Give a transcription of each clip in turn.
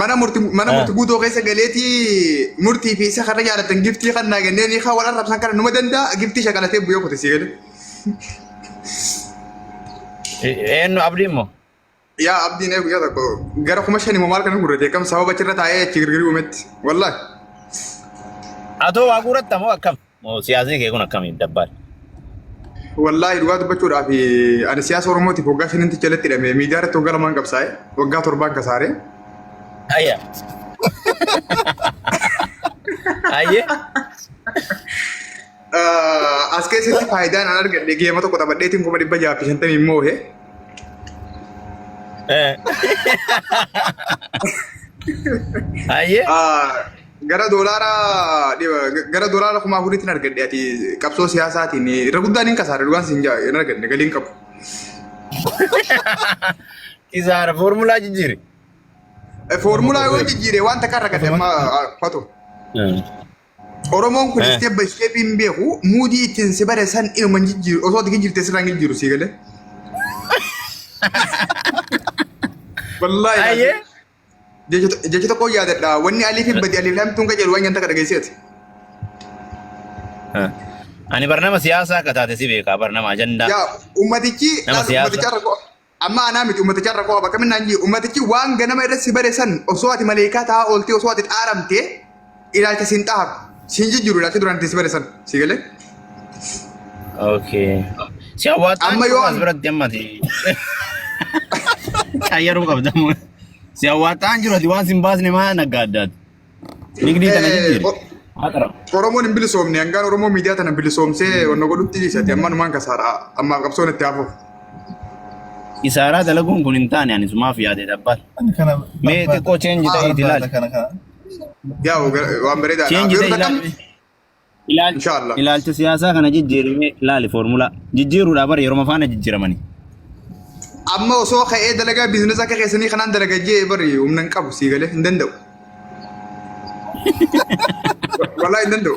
mana murti mana murti guutoo keessa galeeti murtii fi isa kana jaalatan giftii kan naa gennee ni haa wal arrabsan kana numa danda'a giftii shakalatee bu'ee kute sii gale. Eenyu abdii immoo? Yaa abdiin eegu yaa tokko gara kuma shani maal kana gurrate kam sababa achirra taa'ee achi girgirii uumetti wallahi. Atoo waa guuratta moo akkam? siyaasni kee kun akkamiin dabbaal? Wallaahi dhugaa dubbachuudhaaf ani siyaasa Oromootiif waggaa shaninti jalatti hidhame miidiyaa irratti waggaa lamaan qabsaa'e waggaa torbaan kasaare. Ayya. Ayye. Ah, As keessatti faayidaan an argadhe geema tokko taphadheetiin kuma dhibba jaha fi shantamii moohe. Eh. Ayye. Ah, Gara doolaara gara doolaara kuma afuriitiin argadhe ati qabsoo siyaasaatiin irra guddaan hin kasaare dhugaan siin jaa hin arganne galii hin qabu. Kisaara foormulaa jijjiiri. Foormulaa yoo jijjiire waan takka irra gadhe amma fatu. Oromoon kun Eh. isteebba isteebii hin beeku muudii ittiin si bare san inuma hin jijjiiru osoo ati jijjiirte sirraa hin jijjiiru sii galee. Wallaahi. Ayyee. Jecha tokko yaadadha. Wanni alii fi badii alii laamii tun qajeelu waan nyaata akka dhageesseeti. Ani barnama siyaasaa akka taate si beekaa barnama ajandaa. Yaa ummatichi Nama laata siyaasa. ummaticha irra qo'a. Amma anaa miti ummaticha irra qo'a bakka minnaan jiru. Ummatichi waan ganama irratti si bare san osoo ati maleekaa ta'aa ooltee osoo ati xaaramtee ilaalcha siin xaaru siin jijjiiru ilaalcha duraan ittiin si bade san si galee Okay. Si hawwataa Amma yoo as an- biratti amma ta'e. Qayyaruu qabda moo? Si hawwataa hin jiru ati waan sin baasne maa naggaa addaati. Nigdii tana Eh, jijjiiri. o- Haa qara. Oromoon hin bilisoomne hangaan Oromoo miidiyaa tana bilisoomsee wanna godhutti dhiisati amma numaan kasaaraa ammaaf qabsoon itti hafuuf. Isaaraa dalaguun kun hin taane ani sumaaf yaade dhabbata. Mee xiqqoo change ta'e itti ilaali. Kana kana. Yaa waan bareedaadha. Change Yeroo the takka ilaalcha. Ilaalcha, Inshallah. ilaalcha siyaasaa kana jijjiirimee ilaali foormulaa. Jijjiiruudhaa bara yeroo faana jijjiiramani. amma osoo ka'ee dalagaa biizinasa akka keessanii kanaan dalagaa jee bari humna hin qabu sii galee hin danda'u. Walaa hin danda'u.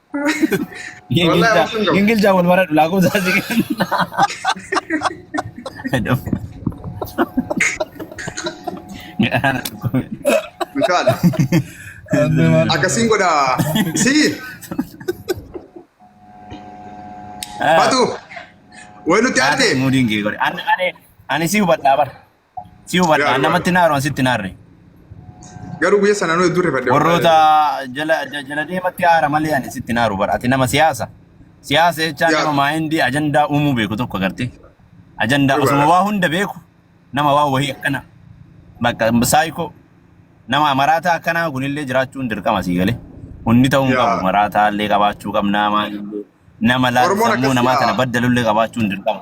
Wallahi obsa hin qabu. Ingilizaa wal baradhu lakkoofsa asii kenna. Mikaal. Akkasiin godha. Si. Batu. Way nutti aarte. Muudin kee godhe. Ani ani ani si hubadhaa bara. Si hubadha. Gaarii Namatti naaru an sitti naarre. Garuu guyya sana nuyi durre fadde. Warroota jala ja- jala deematti haara malee ani sitti naaru bara. Ati nama siyaasa. Siyaasa jechaa Yaa. nama maayindii ajandaa uumuu beeku tokko agartee. Ajandaa Dhugaadha. osuma waa hunda beeku nama waa wahii akkana. Bakka saayikoo nama maraataa akkanaa kunillee jiraachuun dirqama sii galee. Hundi ta'uu hin Yaa. qabu. Maraataa illee qabaachuu qabna maalillee. Nama laal Oromoon sammuu namaa akkasii, kana yaa. baddalullee qabaachuun dirqama.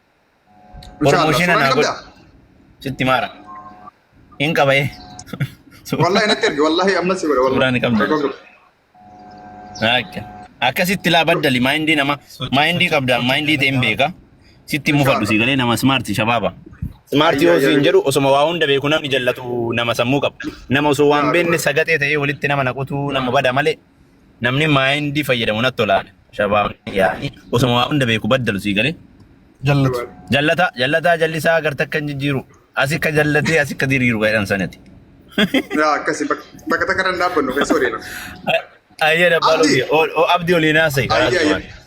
Masha Allah, Promotion suuraa ni anaa godhu. qabdaa? Sitti maara. Hin qabaye. Wallahi natti erge, wallahi amma si godha, wallahi. Suuraa ni qabdaa? Tokko tokko. Akka. Akkasitti laa baddali maayindii nama maayindii qabda maayindii ta'e hin beeka. Sitti mufadhu si galee nama smaarti shabaaba. Smaarti yoo siin jedhu osuma waa hunda beeku namni jallatu nama sammuu qaba. Nama osoo waan beenne sagatee ta'ee walitti nama naqutu nama bada malee. namni maayindii fayyadamu natti tola shabaabni yaani osuma waa hunda beeku baddalu sii galee jallatu jallata jallataa jallisaa gar takka hin jijjiiru asi ka jallatee asi ka diriiru jedhan sanati yaa akkasi bakka takka irra hin dhaabbannu keessa odeena ayyee dabbaaluu Abdi. abdi olii naasai Ayyee, ayyee.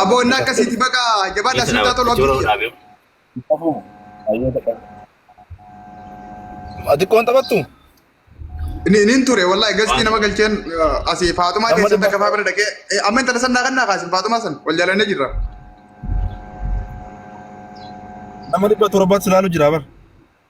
Aboon akkasiiti baga jabaadha siin taa tolu abdii kiyya. Qabu. Ayyoo dhaqa. Ati qoon taphattu? Ni nin ture wallahi gastii nama galcheen eh, asii Faaxumaa Amma keessatti dhimma- akka faabira dhaqee eh, amma intala sannaa kannaa kaasin Faaxumaa san wal jaalannee jirra. Nama dhibba torbaatti silaalu jira bar.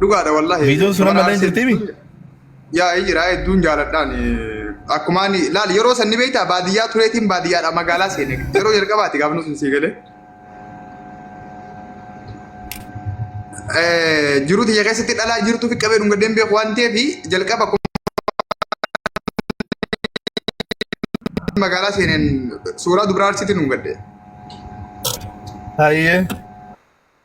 Dhugaadha wallahi. Viidiyoon sun amma illee jirti mi? Yaa ee jira hedduun jaaladhaan akkuma ani laal yeroo sanni beektaa baadiyyaa tureetiin baadiyyaadha magaalaa seene yeroo jalqabaati gaafnu sun sii galee. Jiruu tiyya keessatti dhalaa jirtu fi qabee dhunga deemee waan ta'eef jalqaba magaalaa seeneen suuraa dubaraa arsiitiin dhungadde. Hayyee.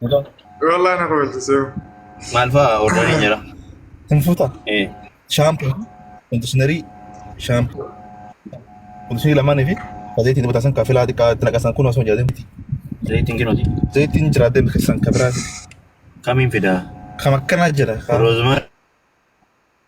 Wallahi na kofalchisee. Maal fa'a ordarii jira? Hin fuuta. Eh. Shaampoo, kondishinerii, shaampoo, kondishinerii lamaanii fi zayitiin dibataa san kaafilaa xiqqaa itti naqasan kun osoo jedhatin miti. Zayitiin kinuuti. Zayitiin jiraatee keessan kabiraa Kamiin fidaa? kam akkanaa jira. Roozmarii.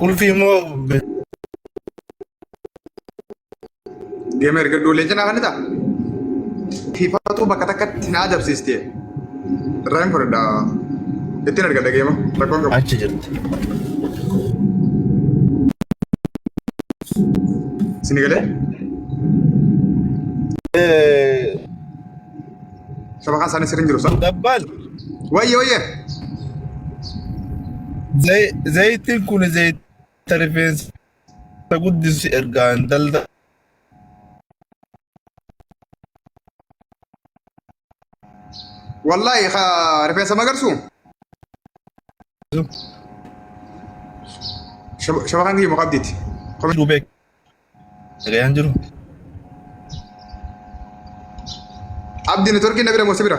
Qulfii immoo deema erga ijoolleen cinaa kan ta'a. Tiifatuu bakka takkatti na adabsiiste. Irraa hin fudhadha. Ittiin erga dhageema. Rakkoon qabu. achi jirti. Sini galee? Eh, Shabakaan isaanii sirriin jiru sa. Dabbal. Wayye wayye. Zayitiin kun zayita rifeensa guddisu ergaan dalda. Wallaahi rifeensa magarsu. Shabakaan kiyya muqabdiiti. Dubeek. Sagayaan jiru. Abdi networkiin na bira moo si bira?